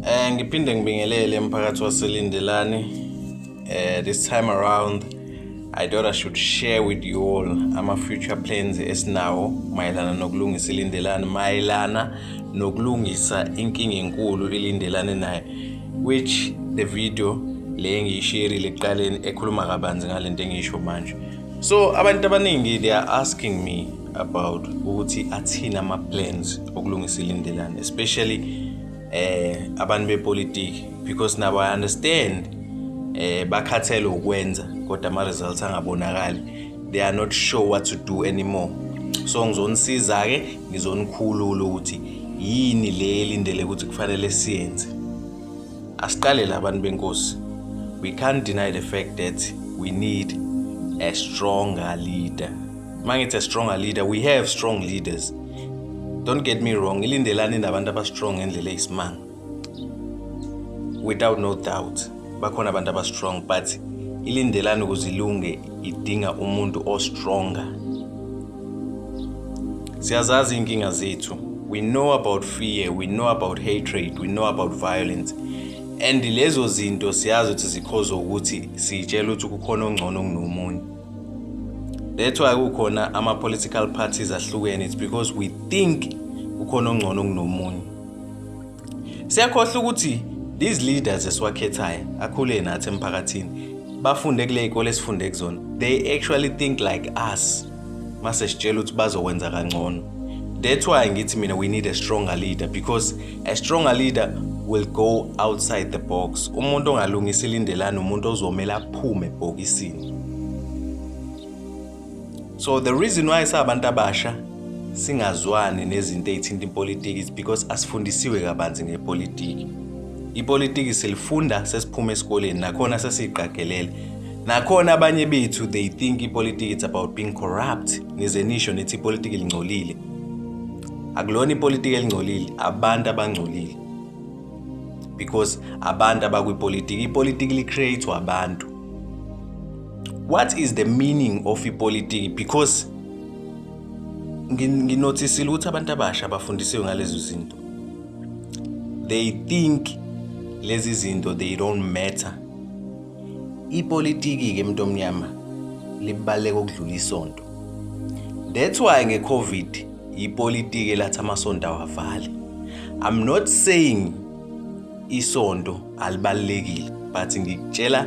Eh ngiphinde ngibingelele emphakathi waselindelani. Eh this time around I thought I should share with you all ama future plans esinawo mayelana nokulungisa ilindelani mayelana nokulungisa inkinga enkulu ilindelane naye which the video le ngiyisherile ekuqaleni ekhuluma kabanzi ngalento engiyisho manje so abantu abaningi they are asking me about ukuthi athini ama plans okulungisa ilindelane especially eh abantu bepolitiki because nabo i understand eh bakhathele ukwenza kodwa ama results angabonakali they are not sure what to do anymore so ngizonisiza ke ngizonikhulula ukuthi yini le elindele ukuthi kufanele siyenze asiqale labantu benkosi we can't deny the fact that we need a stronger leader mangithi a stronger leader we have strong leaders don't get me wrong ilindelani nabantu abastrong ngendlela eyisimanga without no doubt bakhona abantu abastrong but ilindelani ukuze ilunge idinga umuntu ostronger siyazazi iy'nkinga zethu we know about fear we know about hatred we know about violence and lezo zinto siyazi ukuthi zikhoza ukuthi siyitshela ukuthi kukhona ongcono kunomunye That's why kukhona ama political parties ahlukene it's because we think ukhona ongcono kunomunye. Siyakhohlwa ukuthi these leaders esiwakhethayo akhule nathi emphakathini bafunde kule ikole esifunde kuzona. They actually think like us. Mase sitshela ukuthi bazokwenza kangcono. That's why ngithi mina we need a stronger leader because a stronger leader will go outside the box. Umuntu ongalungisa ilindelana umuntu ozomela aphume ebhokisini. so the reason why sabantu abasha singazwani nezinto ezithinta ipolitiki is because asifundisiwe kabanzi ngepolitiki ipolitiki silifunda sesiphuma esikoleni nakhona sesiyiqagelele nakhona abanye bethu they think ipolitiki it's about being corrupt nize nisho nithi ipolitiki lingcolile akulona ipolitiki elingcolile abantu abangcolile because abantu abakwipolitiki ipolitiki li-create-wa abantu what is the meaning of ipolitiki because nginothisile ukuthi abantu abasha bafundisiwe ngalezo zinto they think lezi zinto they don't matter ipolitiki ke mntu omnyama libaleka ukudlula isonto that's why ngecovid ipolitiki elathi amasonto awavali i'm not saying isonto alibalulekile but ngikutshela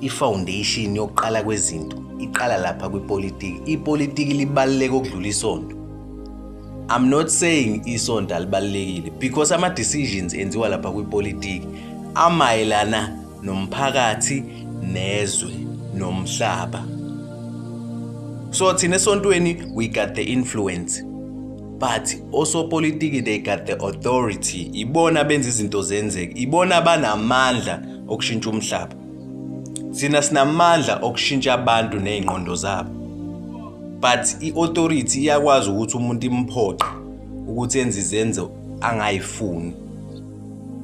ifoundation yokuqala kwezinto iqala lapha kwipolitiki ipolitiki libaluleke okudlula isonto i'm not saying isonto alibalulekile because ama-decisions enziwa lapha kwipolitiki amayelana nomphakathi nezwe nomhlaba so thina esontweni we got the influence but osopolitiki they got the authority ibona benza izinto zenzeke ibona banamandla okushintsha umhlaba sina sinamandla okushintsha abantu nezingqondo zabo but iauthority iyakwazi ukuthi umuntu imphoqe ukuthi enze izenzo angayifuni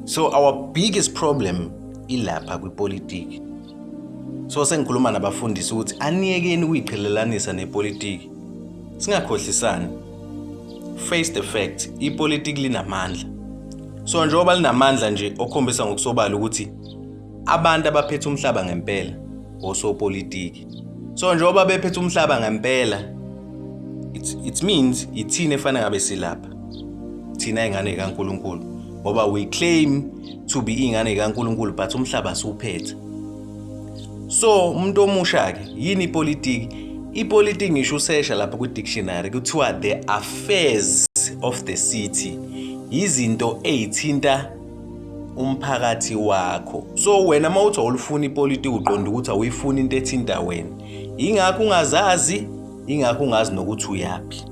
so our biggest problem ilapha kwipolitiki so sengikhuluma nabafundisi ukuthi aniyekeni ukuyiqhelelanisa nepolitiki Singakhohlisani. Face the fact, ipolitiki linamandla. So njengoba linamandla nje okhombisa ngokusobala ukuthi abantu abaphethe umhlaba ngempela osopolitiki. So njengoba bephethe umhlaba ngempela it, it means ithina efanele ngabe silapha. Thina ingane kaNkuluNkulu ngoba we claim to be ingane kaNkuluNkulu but umhlaba siwuphethe. so umuntu omusha ke yini ipolitiki ipolitiki ngisho usesha lapha kwi-dictionary kuthiwa the affairs of the city yizinto eyithinta umphakathi wakho so wena uma uthi awulifuni ipolitiki uqonda ukuthi awuyifuni into ethinta wena yingakho ungazazi ingakho ungazi nokuthi uyaphi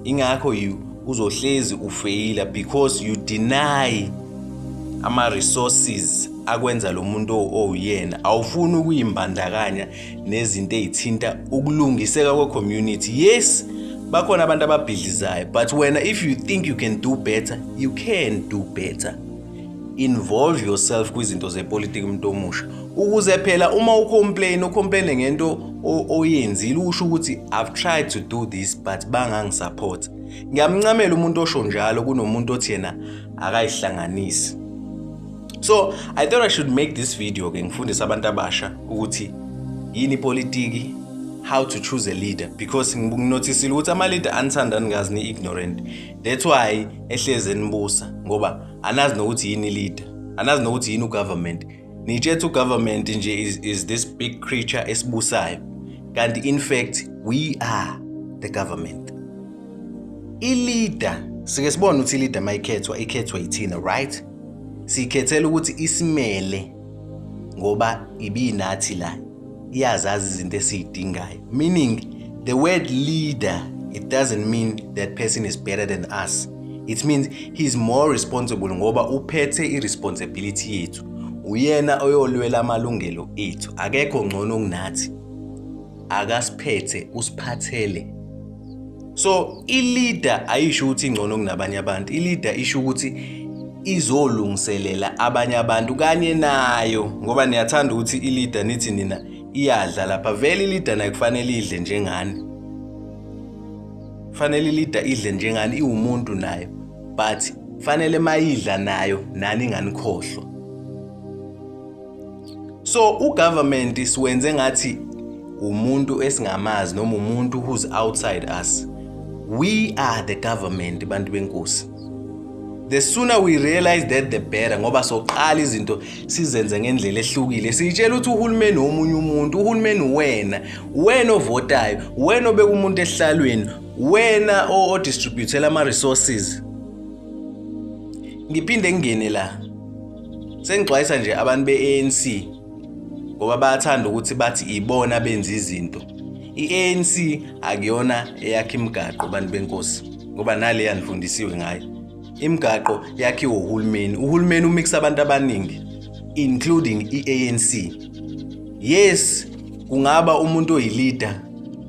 ingakho you uzohlezi ufeyila because you deny ama-resources akwenza lo muntu owuyena awufuni ukuyimbandakanya nezinto ey'thinta ukulungiseka kwe-community yes bakhona abantu ababhidlizayo but wena if you think you can do better you can do better involve yourself kwizinto zepolitiki umuntu omusha ukuze phela uma ucomplain ucomplaine ngento oyenzile usho ukuthi i've tried to do this but bangangisupport ngiyamncamela umuntu osho njalo kunomuntu othi yena akayihlanganisi so i thought i should make this video ke ngifundise abantu abasha ukuthi yini politiki how to choose a leader because nginothisile ukuthi ama-leader anithandani ngazi ni-ignorant That's why ehlezi enibusa ngoba anazi nokuthi yini leader. Anazi nokuthi yini ugovernment. Nitshetha ugovernment nje is, is this big creature esibusayo. Kanti in fact we are the government. I-leader sike sibone ukuthi i-leader mayikhethwa ikhethwa yithina right? Siyikhethela ukuthi isimele ngoba ibinathi la iyazazi izinto esiyidingayo meaning the word leader it doesn't mean that person is better than us it means he's more responsible ngoba uphethe i-responsibility yethu uyena oyolwela amalungelo ethu akekho ngcono kunathi akasiphethe usiphathele so ileader ayisho ukuthi ingcono kunabanye abantu ileader isho ukuthi izolungiselela abanye abantu kanye nayo ngoba niyathanda ukuthi ileader nithi nina iyadla lapha vele ileader nayo kufanele idle njengani fanele ileader idle njengani iwumuntu nayo but fanele mayidla nayo nani nganikhohlwa so ugovernment siwenze ngathi umuntu esingamazi noma umuntu who's outside us we are the government bantu benkosi the sooner we realize that the better ngoba soqala izinto sizenze ngendlela ehlukile siyitshela ukuthi uhulumeni womunye umuntu uhulumeni wena wena ovotayo wena obeka umuntu ehlalweni wena odistributela ama-resources ngiphinde ngingene la Sengixwayisa nje abantu be-ANC ngoba bayathanda ukuthi bathi ibona benza izinto. I-ANC akuyona eyakha imigaqo abantu benkosi ngoba nale yanifundisiwe ngayo. Imigaqo yakhiwa uhulumeni. Uhulumeni umixa abantu abaningi including i-ANC. Yes, kungaba umuntu oyileader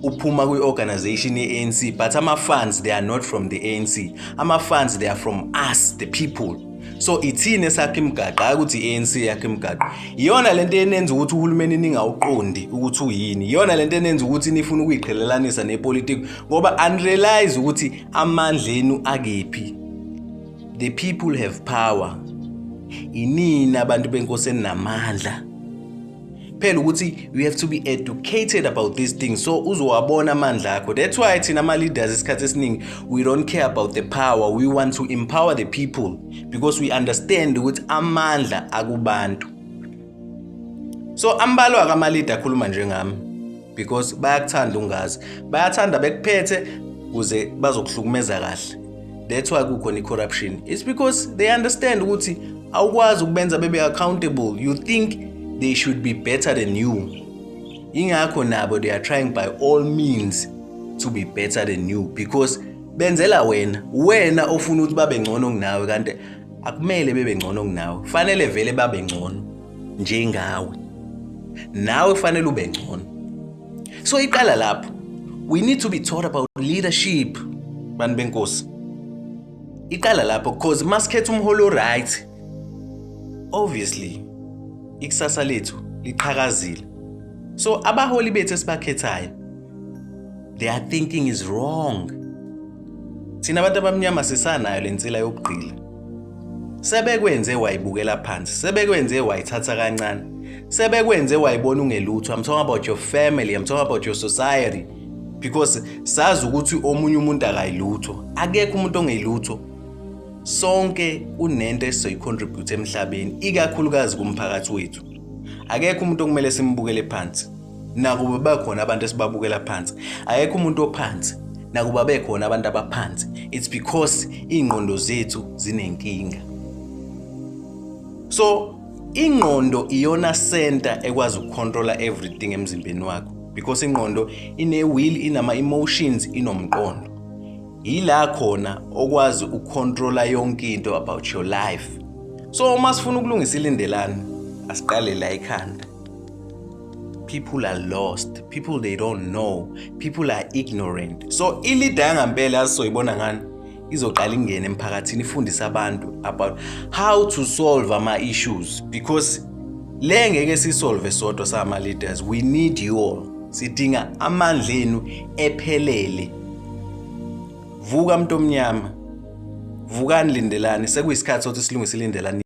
uphuma kwi-organization ye-ANC but ama-funds they are not from the ANC. Ama-funds they are from us the people. so ithini esakhe imigaqo hayi ukuthi i-anc yakhe imigaqo iyona le nto enenza ukuthi uhulumeni ningawuqondi ukuthi uyini iyona le nto enenza ukuthi nifuna ukuyiqhelelanisa nepolitiki ngoba anirealize ukuthi amandla enu akephi the people have power inini abantu benkosi eninamandla phela ukuthi you have to be educated about these things so uzowabona amandla akho that's why thina ama-leaders isikhathi esiningi we don't care about the power we want to empower the people because we understand ukuthi amandla akubantu so ambalwa-ke ama-leader akhuluma njengami because bayakuthanda ungazi bayathanda bekuphethe kuze bazokuhlukumeza kahle that's why kukhona i-corruption it's because they understand ukuthi awukwazi ukubenza bebe accountable you think they should be better than you ingakho nabo they are trying by all means to be better than you because benzela wena wena ofuna ukuthi babe ngcono kunawe kanti akumele bebe ngcono kunawe fanele vele babe ngcono njengawe nawe kufanele ube ngcono so iqala lapho we need to be taught about leadership bantu benkosi iqala lapho because masikhetha umholi oright obviously ikusasa lethu liqhakazile so abaholi bethu esibakhethayo their thinking is wrong Thina abantu abamnyama sisanayo le nsila yokugqila. Sebekwenze wayibukela phansi, sebekwenze wayithatha kancane. Sebekwenze wayibona ungelutho. I'm talking about your family, I'm talking about your society because sazi ukuthi omunye umuntu akayilutho. Akekho umuntu ongeyilutho. Sonke unento esizoyicontribute emhlabeni, ikakhulukazi kumphakathi wethu. Akekho umuntu okumele simbukele phansi. nakuba bakhona abantu esibabukela phansi ayekho umuntu ophansi nakuba bekhona abantu abaphansi it's because ingqondo zethu zinenkinga so ingqondo iyona center ekwazi ukucontrola everything emzimbeni wakho because ingqondo ine will inama emotions inomqondo yila khona okwazi ukucontrola yonke into about your life so uma sifuna ukulungisa ilindelani asiqale la ekhanda people are lost people they don't know people are ignorant so ilida yangampela asizoyibona ngani izoqala ingene emphakathini ifundise abantu about how to solve ama-issues because le ngeke sisolve sodwa sama-leaders we need you all sidinga amandla enu ephelele vuka mntu omnyama vukani lindelani sekuyisikhathi sokuthi silungise ilindelani